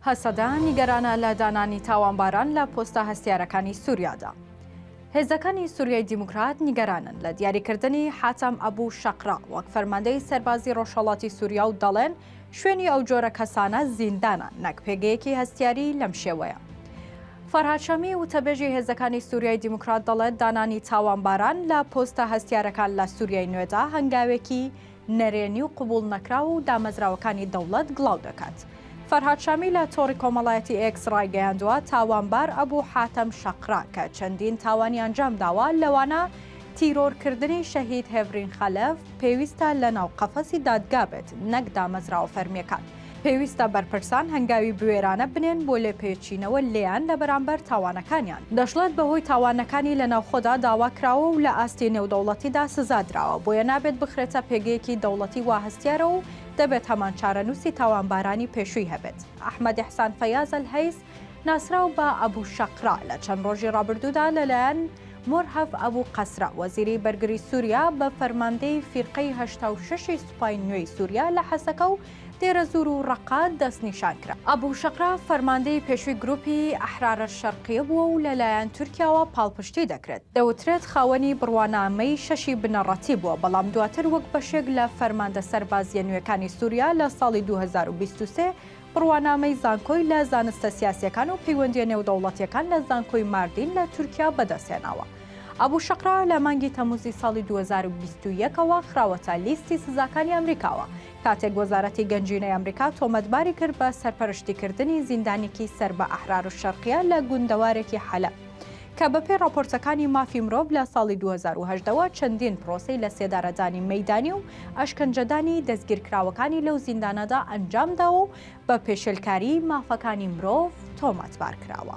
هەسەدە نیگەرانە لە دانانی تاوانباران لە پۆستە هەستیارەکانی سوریادا. هێزەکانی سوریای دیموکرات نیگەرانن لە دیاریکردنی حاتەم ئەبو شەقرە وەک فەرماندەی سەربازی ڕۆژهەڵاتی سوریا و دەڵێن شوێنی ئەو جۆرە کەسانە زیندانە نەک پێگەیەکی هەستیاری لەم شێوەیە. فەرهاد شامی وتەبێژی هێزەکانی سوریای دیموکرات دەڵێت دانانی تاوانباران لە پۆستە هەستیارەکان لە سوریای نوێدا هەنگاوێکی نەرێنی و قبوڵ نەکراو و دامەزراوەکانی دەوڵەت گڵاو دەکات. فەرهاد شامی لە تۆڕی کۆمەڵایەتی ئێکس ڕایگەیاندووە، تاوانبار ئەبو حاتەم شەقرا کە چەندین تاوانی ئەنجام داوە لەوانە تیرۆرکردنی شەهید هێڤرین خەلەف، پێویستە لەناو قەفەسی دادگا بێت نەک دامەزراوە فەرمییەکان. پێویستە بەرپرسان هەنگاوی بوێرانە بنێن بۆ لێپێچینەوە لێیان لە بەرامبەر تاوانەکانیان. دەشڵێت بەهۆی تاوانەکانی لە ناوخۆدا داوا کراوە و لە ئاستی نێودەوڵەتیدا سزا دراوە، بۆیە نابێت بخرێتە پێگەیەکی دەوڵەتی وا هەستیارە و دەبێت هەمان چارەنووسی تاوانبارانی پێشووی هەبێت. ئەحمەد ئیحسان فەیاز ئەلهەیس ناسراو بە ئەبو شەقرا لە چەند ڕۆژی ڕابردوودا لەلایەن مورهەف ئەبو قەسرە، وەزیری بەرگری سووریا بە فەرماندەی فیرقەی هەشتا و شەش ی سوپای نوێی سووریا لە حەسەکە و دێرەزوور و ڕەققە دەستنیشان کرا. ئەبو شەقرا فەرماندەی پێشووی گرووپی ئەحرارە شەرقیە بووە و لە لایەن تورکیاوە پاڵپشتی دەکرێت. دەوترێت خاوەنی بڕوانامەی شەشی بنەڕەتی بووە، بەڵام دواتر وەک بەشێک لە فەرماندە سەربازییە نوێکانی سووریا لە ساڵی دوو هەزار و بیست و سێ بڕوانامەی زانکۆی لە زانستە سیاسییەکان و پەیوەندییە نێودەوڵەتییەکان لە زانکۆی ماردین لە تورکیا بەدەستهێناوە. ئەبو شەقرا لە مانگی تەمووزی ساڵی دوو هەزار و بیست و یەک ەوە خراوەتە لیستی سزاکانی ئەمریکاوە کاتێک وەزارەتی گەنجینەی ئەمریکا تۆمەتباری کرد بە سەرپەرشتیکردنی زیندانێکی سەر بە ئەحرارولشەرقیە لە گوندەوارێکی حەلەب کە بەپێی ڕاپۆرتەکانی مافی مرۆڤ لە ساڵی 2018 وە چەندین پرۆسەی لە سێدارەدانی مەیدانی و ئەشکەنجەدانی دەستگیرکراوەکانی لەو زیندانەدا ئەنجامداوە و بە پێشێلکاریی مافەکانی مرۆڤ تۆمەتبار کراوە.